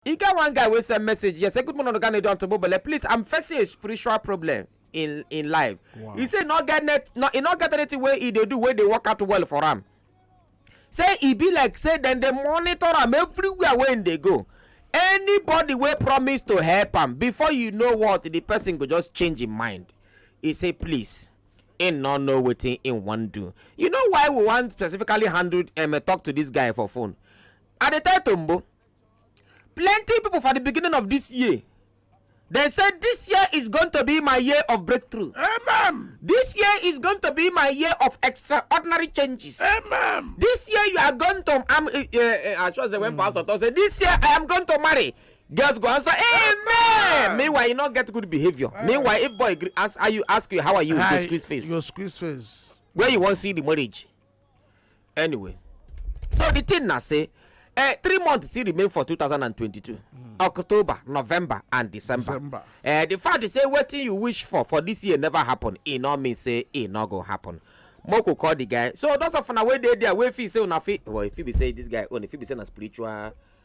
E get one guy wey send message here say good morning oga Nedo and Tobobele please I'm facing a spiritual problem in in life. Wow. He say no get net no he no get anything wey he dey do wey dey work out well for am. Say e be like say dem dey monitor am everywhere wey im dey go. Anybody wey promise to help am before you know what the person go just change im mind. He say please im no know wetin im wan do. You know why we wan specifically handle um, talk to this guy for phone? I dey tell Tombo plenty people for the beginning of this year they say this year is going to be my year of breakthrough Amen. this year is going to be my year of extraordinary changes Amen. this year you are going to i'm uh, uh, i trust the when mm. pastor talk say this year i am going to marry girls go answer amen, amen. meanwhile you no get good behaviour amen. meanwhile if boy ask, you ask you how are you Hi, you go squeeze face you go squeeze face where you wan see the marriage anyway so the thing na say eh, three months still remain for 2022 mm. october november and december, december. Eh, the fact is say wetin you wish for for this year never happen e no mean say e no go happen moko call the guy so those of una wey dey there wey feel say una fit well e fit be say this guy own e fit be say na spiritual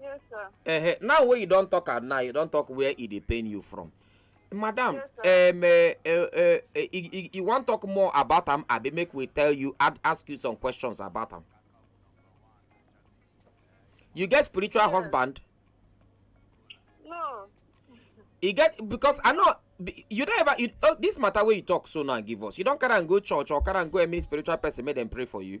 Yes, sir. Uh, now when you don't talk at now, you don't talk where it e pain you from. Madam, yes, um, uh, uh, uh, uh, you, you want talk more about them? I be make we tell you, I'd ask you some questions about them. You get spiritual yes. husband? No. You get because I know you don't ever you, oh, this matter where you talk so now give us. You don't carry and go church or carry and go any spiritual person make them pray for you.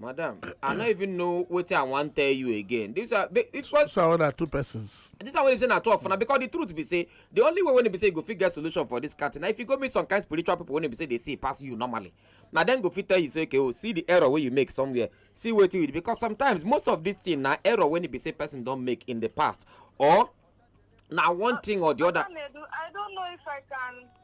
madam i no even know wetin i wan tell you again this are because so na two persons this one wey be say na two of una because the truth be say the only way wey be say you go fit get solution for this kind thing na if you go meet some kind spiritual people wey be say dey see pass you normally na dem go fit tell you say okay oh see the error wey you make somewhere see wetin you do because sometimes most of this thing na error wey be say person don make in the past or na one thing or the other. i don't know if i can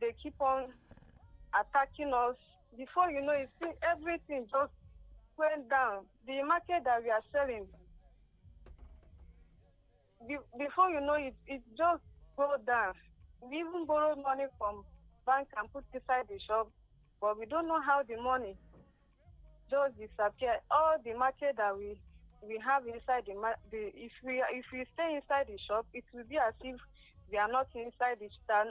dey keep on attacking us before you know it see everything just went down the market that we are selling be, before you know it it just go down we even borrow money from bank and put inside the shop but we don't know how the money just disappear all the market that we we have inside the, ma- the if we if we stay inside the shop it will be as if we are not inside the stand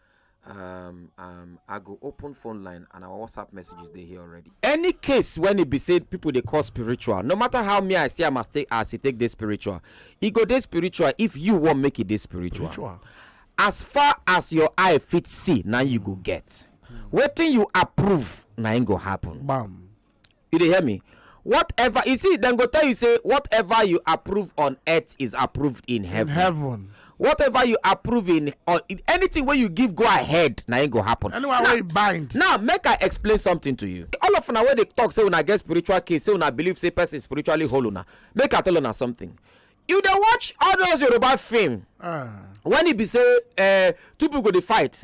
um, um, I go open phone line and our WhatsApp messages they here already. Any case when it be said people they call spiritual, no matter how me I say I must take as it take this spiritual, it go this spiritual if you want make it this spiritual. spiritual. As far as your eye fit see, now you go get. Mm. Waiting you approve, now it go happen. Bam. you dey hear me whatever you see dem go tell you say whatever you approve on earth is approved in heaven, heaven. whatever you approve in or in anything wey you give go ahead na im go happen Anyone Now- wey bind. now make i explain something to you all of una wey dey talk say una get spiritual case say una believe say person spiritually whole una make i tell una something you dey watch all those yoruba film Ah. when e be say uh, two people go dey fight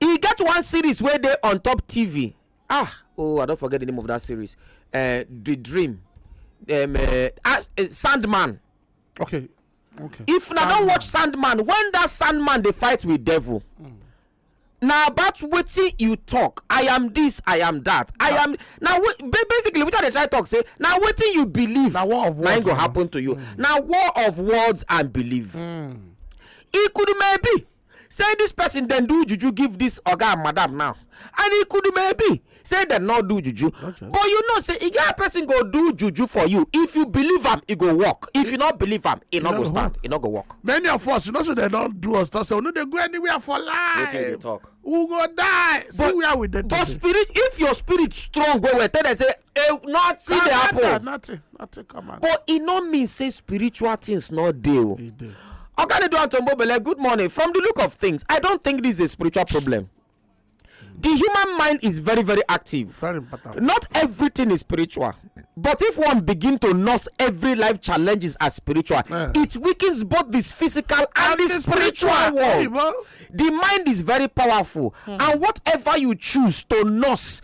e get one series wey dey on top tv ah oh i don forget the name of that series uh, the dream um, uh, ah, uh, sandman okay okay if na don watch sandman when that sandman dey fight with devil mm. na about wetin you talk i am this i am that i am na basically wetin i dey try talk say na wetin you believe na war of words na im go happen to you mm. na war of words and belief mm. ikudumebi say this person then do juju give this oga and madam now and e could maybe say dem no do juju but you know say e get person go do juju for you if you believe am e go work if you no believe am e no go stand e no go work. many of us you know say dem don do us talk say we no dey go anywhere for life we go die see where we dey but spirit if your spirit strong well well tell dem say Eh, nothing dey happen Nothing, nothing, nothing come out. but e no mean say spiritual things no dey o He did. oganedo antombobele good morning from the look of things i don't think this is a spiritual problem the human mind is very very active Very important. not everything is spiritual but if one begin to nurse every life challenges as spiritual Yeah. it weakens both this physical and, the spiritual, world Oyibo. the mind is very powerful and whatever you choose to nurse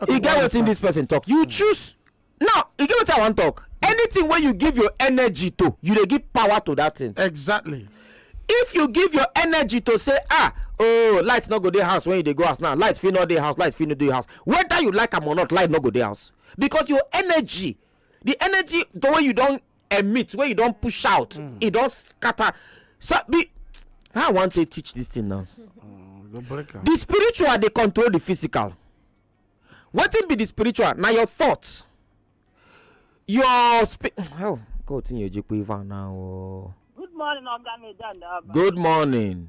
Okay, e get why wetin this person talk you choose now e get wetin i wan talk anything wey you give your energy to you dey give power to that thing exactly if you give your energy to say ah oh light no go dey house when you dey go house now light fit no dey house light fit no dey house whether you like am or not light no go dey house because your energy the energy the way you don emit wey you don push out hmm. e don scatter so be how i wan take teach this thing now hmm, the spiritual dey control the physical wetin be the spiritual na your thoughts your spirit oh god tin yeje pe ivan now oh. good morning oga medan good morning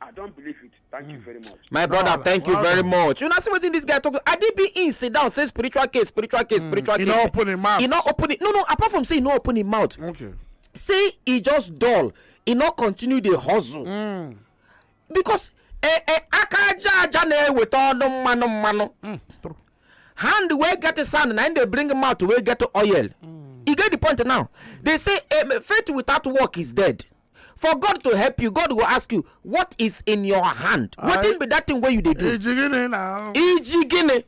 I don't believe it. Thank you hmm. very much. My brother, well, thank you well very done. much. You know, see what in this guy talking. Adibi in sit down, say spiritual case, spiritual case, mm. spiritual he case. He not open his mouth. He not open it. No, no, apart from saying he not open his mouth. Okay. Say he just dull. He not continue the hustle. Mm. Because eh, eh, aka aja aja na-eweta ọnụ mmanụ mmanụ hmm, hand wey get sand na im dey bring mouth wey get oil mm. e get the point now they say eh, faith without work is dead for god to help you god go ask you what is in your hand wetin be that thing wey you dey do ijigini na ijigini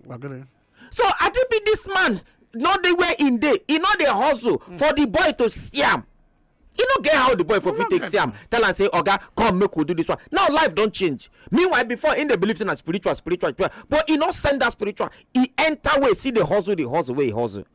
so i think be this man no dey where im dey e no dey hustle hmm. for the boy to see am e no get how the boy for fit take see am tell am say oga come make we do this one now life don change meanwhile before im dey believe say na spiritual spiritual but e no send that spiritual e enter way see the hustle the hustle wey e hustle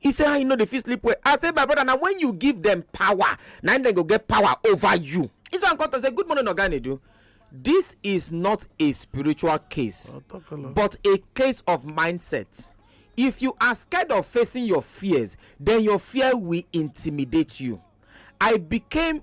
He say how you no dey fit sleep well. I say my brother na when you give them power na im dem go get power over you. This one come talk say good morning Oga Nedu. This is not a spiritual case I'll talk a lot. but a case of mindset. If you are scared of facing your fears, then your fear will intimidate you. I became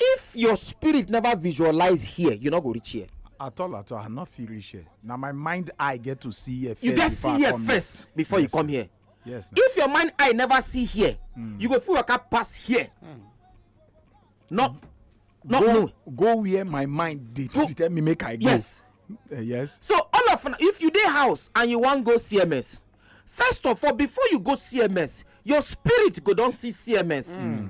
if your spirit never visualize here you no go reach here at all at all i no fit reach here na my mind eye get to see here first you get see here first before you come here yes if your mind eye never see here hmm. you go fit waka pass here hmm. no no no go where my mind dey tell me make i go yes eh, yes so all of if you dey house and you wan go cms first of all before you go cms your spirit go don see cms hmm.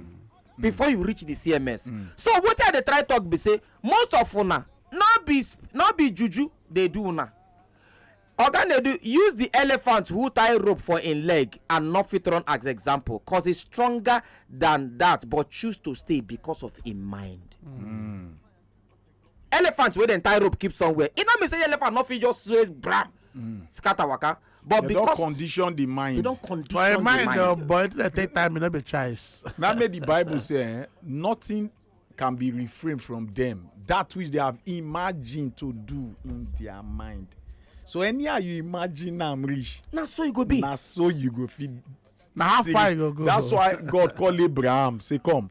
before you reach the cms so wetin i dey try talk be say most of una no be no be juju dey do una oga nadu use the elephant who tie rope for im leg and no fit run as example cause he's stronger than that but choose to stay because of im mind. elephant wey dem tie rope keep somewhere e no mean say elephant no fit just sway bram mm. scatter waka but they because don condition the mind they don condition but the mind but uh, but until they take time e no be choice. na make the bible say eh, nothing can be refrained from them that which they have imagined to do in their mind so anyhow you imagine am reach na so you go be na so you go fit na how far you go go that's why god call abraham say come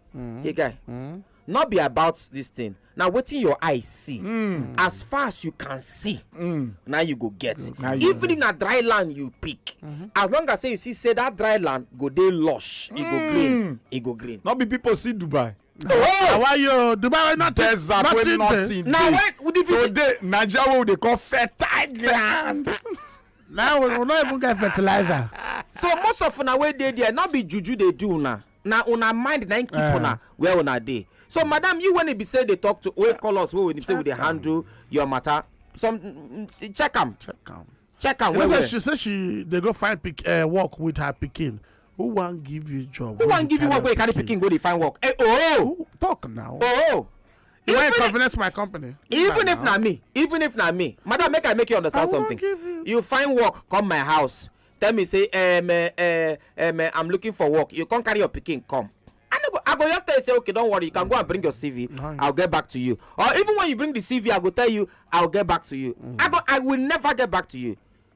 mm. hey guy mm. not be about this thing na wetin your eye see mm. as far as you can see mm. na you go get now even if na dry land you pick mm-hmm. as long as say you see say that dry land go dey lush e go mm. green e go green. no be people see dubai àwa yóò dubai wey nothing desert wey nothing dey na when the visit today naija wey we dey call fertile land now we no even get fertilizer so most of una wey dey there no be juju dey do una na una mind na im keep eh. una where una dey so madam you when e be say dey talk to wey call us wey say we dey handle your matter some mm, mm, check am check am check am well well she say she dey go find eh, work with her pikin who wan give you job who wan give you work wey you carry pikin go dey find work eh oh talk now oh you wan inconvenience my company even if na me even if na me madam make i make you understand something you find work come my house tell me say um, uh, um, uh, i'm looking for work you come carry your pikin come i no go i go just tell you say okay don't worry you can go and bring your cv nice. i'll get back to you or even when you bring the cv i go tell you i'll get back to you mm. i go i will never get back to you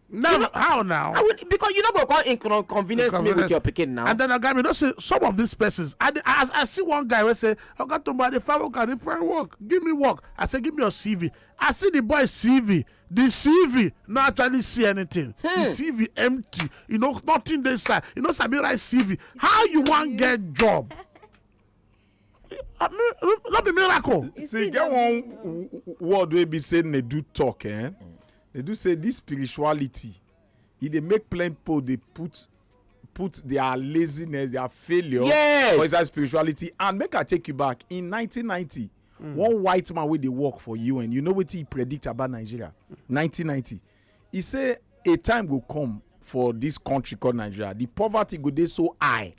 no, you know, how now? I will, because you know go come inconvenience, inconvenience me with your picking now. And then I got me. Don't say some of these persons. I, I, I see one guy who say, "I got to buy the five work and the five work. Give me work." I say, "Give me your CV." I see the boy CV. the cv no actually see anything the hmm. cv empty you know nothing dey inside you no sabi write cv how you wan get job no be miracle. see e get one word wey be say na do talk eh? na do say this spirituality e dey make plenty people dey put put their laziness their failure yes. for inside spirituality and make i take you back in 1990 mm. one white man wey dey work for un you know wetin he predict about nigeria 1990 he say a time go come for this country called nigeria the poverty go dey so high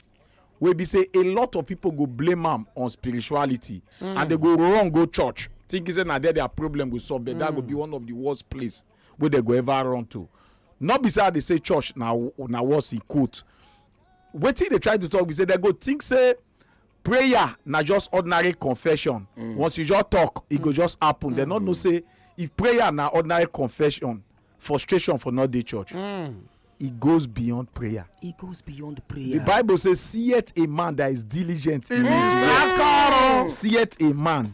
wey be say a lot of people go blame am on spirituality mm. and they go run go church thinking say na there their problem go solve but mm. that go be mm. one of the worst place wey they go ever run to not be say i dey say church na na worse in quote wetin dey try to talk be say they go think say prayer na just ordinary confession mm. once you just talk e go mm. just happen dem no know mm. say if prayer na ordinary confession frustration for not dey church e goes beyond prayer e goes beyond prayer the bible say seeth a man that is diligent in his work seeth a man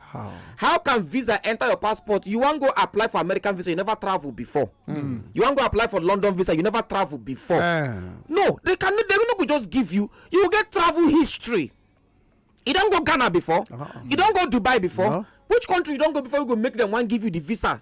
How? How can visa enter your passport? You want go apply for American visa, you never travel before. Mm. You want go apply for London visa, you never travel before. Uh. No, they can they no go just give you. You get travel history. You don't go Ghana before. Uh -huh. You don't go Dubai before. No. Which country you don't go before you go make them one give you the visa?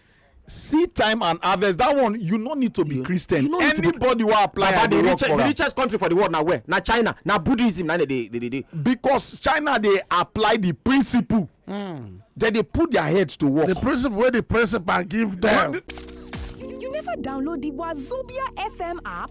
seed time and harvest that one you no need to be you, christian you no need anybody to be, wey apply baba, the, the, richest, the richest country for the world na where na china na buddhism na dey dey dey dey. because china dey apply the principle. Mm. dem dey put their heads to work. the principle wey the principal give them. you never download the wazobia fm app.